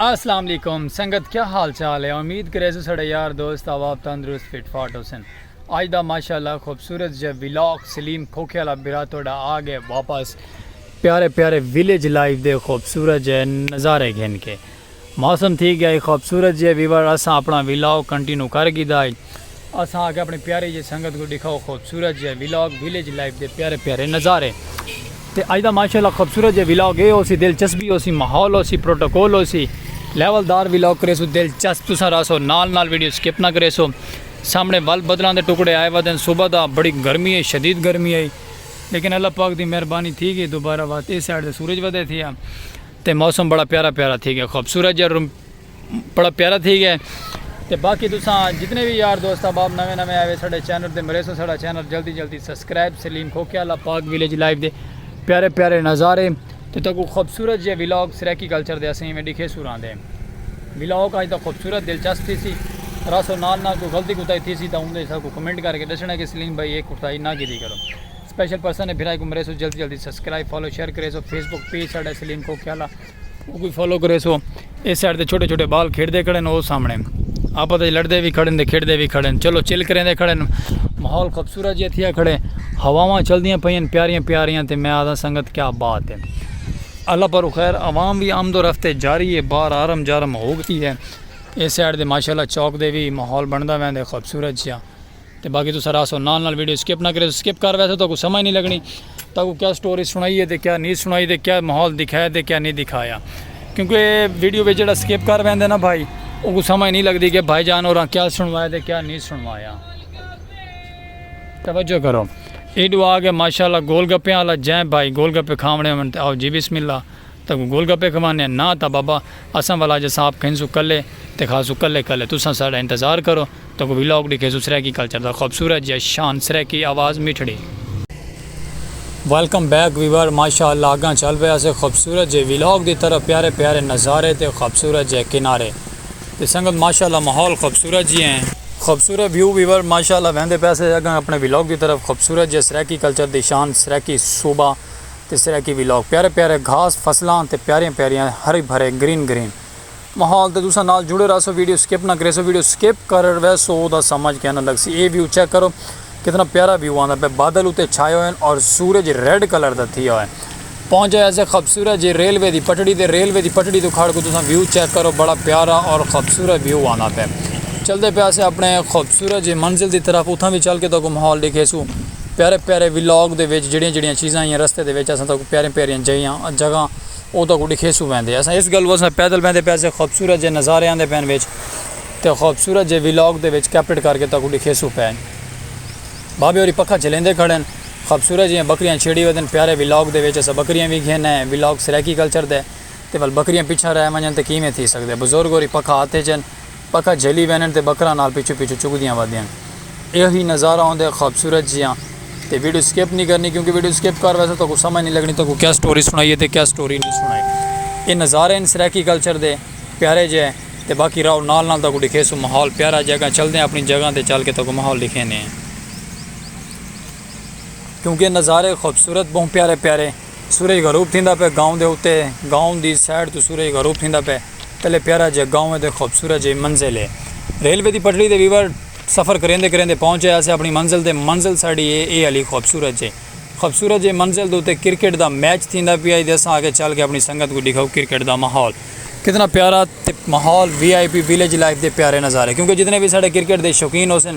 السلام علیکم سنگت کیا حال چال ہے امید کرے سو سڑے یار دوست آواب تندرست فٹ فاٹ ہو سن آج دا ماشاءاللہ خوبصورت جے ویلاک سلیم کھوکھے والا برا توڑا آگے واپس پیارے پیارے ویلیج لائف دے خوبصورت جے نظارے گھن کے موسم تھی گیا ہئی خوبصورت جیہے ویور اساں اپنا ویلاگ کنٹینو کر گھیدا ہئی اساں آکھیا اپنی پیاری جیہے سنگت کوں ڈکھاؤ خوبصورت جیہے ویلاگ ویلیج لائف دے پیارے پیارے نظارے تے اج دا ماشاءاللہ خوبصورت جیہے ویلاگ اے ہوسی دلچسبی ہوسی ماحول ہوسی پروٹوکول ہوسی لیول دار ویلاگ کریسو دلچسپ تساں رہسو نال نال ویڈیو سکپ نہ کریسو سامنے ول بدلاں دے ٹکڑے آئے ودن صبح دا بڑی گرمی ہئی شدید گرمی ہئی لیکن اللہ پاک دی مہربانی تھی گئی دوبارہ وات اے سائیڈ تے سورج ودے تھیا۔ تے موسم بڑا پیارا پیارا تھی گیا خوبصورت جا روم بڑا پیارا تھی گیا تے باقی تساں جتنے بھی یار دوست احباب نویں نویں آئے ساڈے چینل دے مریسوں ساڈا چینل جلدی جلدی سبسکرائب سلیم کھوکیا اللہ پاک ویلیج لائف دے پیارے پیارے نظارے تے تکو خوبصورت جے ویلاگ سریکی کلچر دے اسیں میں ڈکھے سوراں دے ویلاگ آج دا خوبصورت دلچسپ تھی سی راسو نال نال کوئی غلطی کوتاہی تھی سی تا اوندے سا کو کمنٹ کر کے دسنا کہ سلیم بھائی ایک کوتاہی نہ کیتی کرو سپیشل پرسن ہے بھرائی کو مرے سو جلدی جلدی سبسکرائب فالو شیئر کرے سو فیس بک پیج ساڑھا سلیم کو کھیالا وہ کوئی فالو کرے سو اس سائڈ دے چھوٹے چھوٹے بال کھیڑ دے کھڑے وہ سامنے آپ دے لڑ دے بھی کھڑے دے کھیڑ دے بھی کھڑے چلو چل کریں دے کھڑے ماحول خوبصورت جی تھیا کھڑے ہواواں چل دیاں پئیں پیاریاں پیاریاں تے میں آدھا سنگت کیا بات ہے اللہ پر خیر عوام بھی آمد و رفتے جاری ہے بار آرم جارم ہو گئی ہے اس سائڈ دے ماشاءاللہ چوک دے بھی ماحول بندا ویندے خوبصورت جیاں تے باقی تساں راہسو نال نال ویڈیو سکپ نہ کریسو سکپ کر ویسو تہاکوں سمجھ نی لگنی تہاکوں کیا سٹوری سنائی ہے تے کیا نی سنائی تے کیا ماحول دکھایا تے کیا نی دکھایا کیونکہ ویڈیو وچ جیڑا سکپ کر ویندے نا بھائی اوکوں سمجھ نی لگدی کہ بھائی جان اوراں کیا سنوایا تے کیا نی سنوایا توجہ کرو ایڈو آ کے ماشاءاللہ گول گپے والا جیں بھائی گول گپے کھاونے ہون تے آو جی بسم اللہ تہاکوں گول گپے کھوانے ہیں نہ تاں بابا اساں والا جساں آپ کھنسو کلے تے کھاسو کلے کلے تساں ساڈا انتظار کرو تکوں وی لوک ڈکھیسوں سرائیکی کلچر دا خوبصورت جیا شان سرائیکی آواز میٹھڑی۔ ویلکم بیک ویور ماشاء اللہ اگاں چل پئے اسے خوبصورت جے ویلاگ دی طرف پیارے پیارے نظارے تے خوبصورت جے کنارے تے سنگت ماشاء اللہ ماحول خوبصورت جی ہیں خوبصورت ویو ویور ماشاء اللہ ویندے پئے اسے اگاں اپنے ویلاگ دی طرف خوبصورت جے سرائیکی کلچر دی شان سرائیکی صوبہ تے سرائیکی ویلاگ پیارے پیارے گھاس فصلاں تے پیاریاں پیاریاں ہرے بھرے گرین گرین ماحول تے تساں نال جڑے رہسو ویڈیو سکپ نہ کریسو ویڈیو سکپ کر ویسو او دا سمجھ کیناں لگسی اے ویو چیک کرو کتنا پیارا ویو آندا پے بادل اتے چھائے ہوئے ہن اور سورج ریڈ کلر دا تھیا ہوئے پہنچے ایسے خوبصورت جے ریلوے دی پٹڑی تے ریلوے دی پٹڑی تو کھڑ کو تساں ویو چیک کرو بڑا پیارا اور خوبصورت ویو آندا پے چلدے پے اسے اپنے خوبصورت جے منزل دی طرف اتھاں وی چل کے تو کو ماحول دیکھیسو پیارے پیارے ولاگ دے وچ جڑیاں جڑیاں چیزاں ہیاں رستے دے وچ اساں تو کو پیارے پیارے جگہ جگہ اونداں کوں ڈکھیسوں ویندے اساں اس گالوں اساں پیدل ویندے پئے سے خوبصورت جے نظارے آندے پئن وچ تے خوبصورت جے ویلاگ دے وچ کیپٹڈ کر کے تاں کوں ڈکھیسوں پئے بابے ہوری پکھا جھلیندے کھڑن خوبصورت جیاں بکریاں چھیڑی ودن پیارے ویلاگ دے وچ اساں بکریاں وی گھن ہیں ویلاگ سرائیکی کلچر دے تے ول بکریاں پچھاں رہ ونجن تے کیویں تھی سکدے بزرگ ہوری پکھا ہتھ اچن پکھا جھلی ویندن تے بکراں نال پچھوں پچھوں چگدیاں ودیاں ایہو ہی نظارہ ہوندے خوبصورت جیاں تے ویڈیو سکپ نی کرنی کیونکہ ویڈیو سکپ کر ویسو تہاکوں سمجھ نی لگنی تہاکوں کیا سٹوری سنائیے تے کیا سٹوری نی سنائی ایہ نظارے ہن سرائیکی کلچر دے پیارے جے تے باقی راہو نال نال تہاکوں ڈکھیسوں ماحول پیارا جے اگاں چلدے آں اپنی جگہ تے چل کے تہاکوں ماحول ڈکھیندے ہیں کیونکہ نظارے خوبصورت بہوں پیارے پیارے۔ سورج غروب تھیندا پئے گاؤں دے اتے گاؤں دی سائیڈ توں سورج غروب تھیندا پئے تلے پیارا جئے گاؤں اتے خوبصورت جئے منزل اے ریلوے دی پٹڑی تے ویور سفر کریندے کریندے پہنچ اے اسے اپنی منزل تے منزل ساڈی اے اے علی خوبصورت جئے خوبصورت جئے منزل دے اتے کرکٹ دا میچ تھیندا پیا ہی تے اساں آکھیا چل کے اپنی سنگت کوں ڈکھاؤ کرکٹ دا ماحول کتنا پیارا تے ماحول وی آئی پی ویلیج لائف دے پیارے نظارے کیونکہ جتنے وی ساڈے کرکٹ دے شوقین ہوسن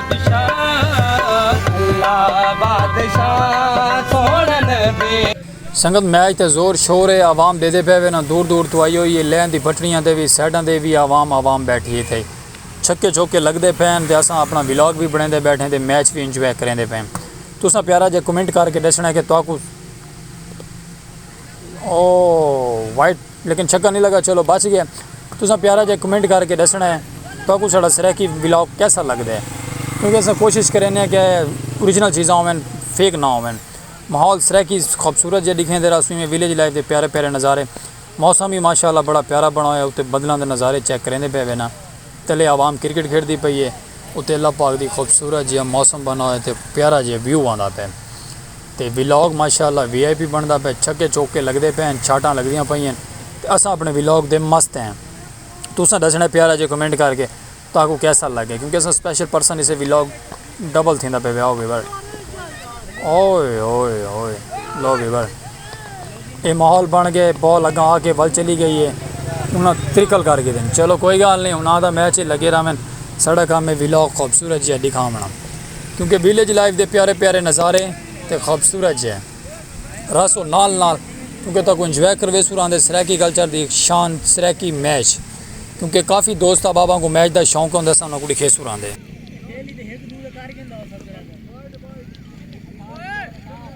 سنگت میچ تے زور شور اے عوام ڈیدے پئے ویناں دور دور توں آئی ہوئی اے لین دی بٹڑیاں تے وی سائیڈاں دے وی عوام عوام بیٹھی اے تھئی چھکے چوکے لگدے پئے ہن تے اساں اپنا ولاگ وی بنڑیندے بیٹھے تے میچ وی انجوائے کریندے پئے تساں پیارا جیہا کمنٹ کر کے ڈسنڑاں کہ تہاکوں او وائٹ لیکن چھکا نی لگا چلو بچ گئے تساں پیارا جیہا کمنٹ کر کے ڈسنا ہے تہاکوں ساڈا سرائیکی ولاگ کیسا لگدا ہے کیونکہ اساں کوشش کرینے آں کہ اوریجنل چیزاں ہوون فیک نہ ہوون ماحول سرائیکی خوبصورت جیہا ڈکھیں تیرا اس میں ولیج لائف دے پیارے پیارے نظارے موسم بھی ماشاء اللہ بڑا پیارا بنڑا ہویا اتے بدلاں دے نظارے چیک کریندے پئے وینا تلے عوام کرکٹ کھیڈدی پئی ہے اتے اللہ پاک دی خوبصورت جیہا موسم بنڑا ہویا تے پیارا جیہا ویو آندا پئے۔ تے ولاگ ماشاءاللہ وی آئی پی بنڑدا پئے چھکے چوکے لگدے پئے ہن شاٹاں لگدیاں پئین تے اساں اپنڑے ولاگ دے مست ہیں تساں ڈسنڑاں ہے پیارا جئے کمنٹ کر کے تہاکوں کیسا لگے کیونکہ اساں سپیشل پرسن اسے ولاگ ڈبل تھیندا پئے ویاو ویور اوئے ہوئے ہوئے لو ویور اے ماحول بن گئے بال اگاں آ کے ول چلی گئی اے انہاں ترکل کر گھدن چلو کوئی گال نئیں ہن آ دا میچ اے لگے راوین ساڈا کم اے ولاگ خوبصورت جیہا ڈکھاونڑاں کیونکہ ویلیج لائف دے پیارے پیارے نظارے تے خوبصورت جیہے رہسو نال نال کیونکہ تہاکوں انجوائے کرویسو راں دے سرائیکی کلچر دی شان سرائیکی میچ کیونکہ کافی دوست احباباں کوں میچ دا شوق ہوندے اساں انہاں کوں ڈکھیسو راں دے